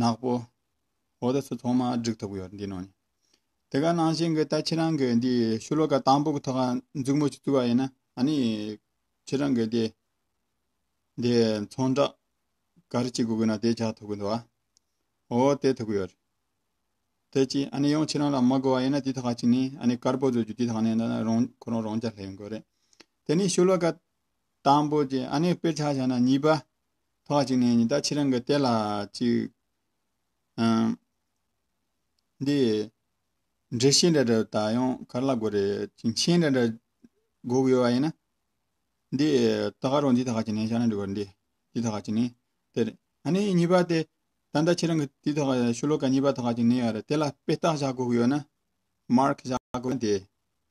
ནག་པོ། འོ་ད་ཚོ་ཚོང་མ་སྒྲིག་ཐུབ་གི་ཡོད་འདི་ནོ། དེ་ག་ནང་བཞིན་གི་ད་ཁྱེད་རང་གི་འདི་ཤུ་ལོ་ཀ་དང་པོ་གི་ཐོག་ཁ་འཛུགས་མོ་ཅིག་བཙུགས་པ་ཡིན་ན་ཨ་ནི་ཁྱེད་རང་གི་དེ་འདི་ཚོང་བསྒྲགས་ག་རེ་ཅིག་དགོས་གི་ན་དེ་བྱ་ཐུབ་གི་འདུག་ཨ། འོ་དེ་ཐུབ་གི་ཡོད། དེ་ཅི་ཨ་ནི་ཡང་ཁྱེད་རང་ལ་མ་དགོས་པ་ཡིན་ན་དེ་ཐོག་ཁ་ཅིག་ནི་ཨ་ནི་དཀར་པོ་བཟོ་རྒྱུ་དེ་ཐོག་ནས་ད་རང་ཁོ་རང་རང་ཅག་ལྷས་ཡོང་གི་རེད། དེ་ནི་ཤུ་ལོ་ཀ་དང་པོ་ཅིག་ཨ་ནི་དཔེར་ཆ་བྱ་ན་གཉིས་པ་ཐོག་གཅིག་ནས་ཉི་ཟླ་ཁྱེད་རང་གི་ལྟས་ལ་ཅིག། འདི། འདྲེ་ཤེས་འདྲ་འདྲ་ད་ཡང་གར་ལ་དགོས་རེད་ཅིང་ཆེན་འདྲ་འདྲ། སྒུག་ཡོད་བ་ཡིན་ན། འདི། ད་ག་རུ་འདི་ཐག་གཅིག་ནས་ཤར་ན་འགྲིག་གོ་འདི། འདི་ཐག་གཅིག་ནས་དེ་རེད། ཨ་ནི་གཉིས་པ་དེ། ད་ལྟ་ཁྱེད་རང་གི་དེ་ཐག་ཤུ་ལོ་ཀ་གཉིས་པ་ཐག་གཅིག་ནས་ཡོད་རེད་དེ་ལ་དཔེ་བལྟ་བཞག་སྒུག་ཡོད་ན། Mark། བཞག་དགོས་ན་དེ།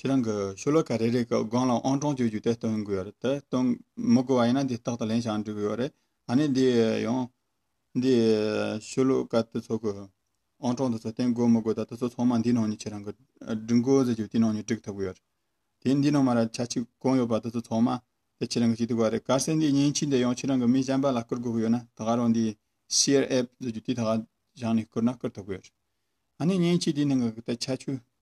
ཁྱེད་རང་གིས་ཆོས་ལུགས་ག་རེ་རེད་གི་སྒང་ལ་ཨང་གྲངས་བཅོལ་རྒྱུ་དེ་སྟོན་དགོས་རེད་དེ་སྟོན་མི་དགོས་བ་ཡིན་ན་འདི་རྟག་ཏུ་ལན་ཞག་འགྲིག་གི་ཡོད་རེད་ད་ནི་འདི་ཡང། འདི་ཆོས་ལུགས་ག་དེ་ཚོ་གི་ཨང་གྲངས་དེ་ཚོ་སྟན་དགོས་མི་དགོས་ད་དེ་ཚོ་ཚང་མ་འདི་ནང་ནས་ཁྱེད་རང་གི་སྒྲིག་འགོ་ཟེར་རྒྱུ་དེ་ནང་ནས་སྒྲིག་ཐུབ་གི་ཡོད་རེད་དེ་འདི་ནང་མ་ར་ཆ་གཅིག་གང་ཡོད་པ་དེ་ཚོ་ཚང་མ་དེ་ཁྱེད་རང་གིས་ཅིག་ཐུབ་གི་རེད་གལ་སྲིད་འདི་ཉིན་གཅིག་འདི་ཡང་ཁྱེད་རང་གི་མི་གཞན་པ་ལ་བསྐུར་དགོས་གི་ཡོད་ན་ད་ག་རང་འདི Share App ཟེར་རྒྱུ་དེ་ད་ག་བཞག་ནས་བསྐུར་ན་བསྐུར་ཐུབ་གི་ཡོད་རེད་ད་ནི་ཉིན་གཅིག་དེའི་ནང་གི་དེ་ཆ་ཆུ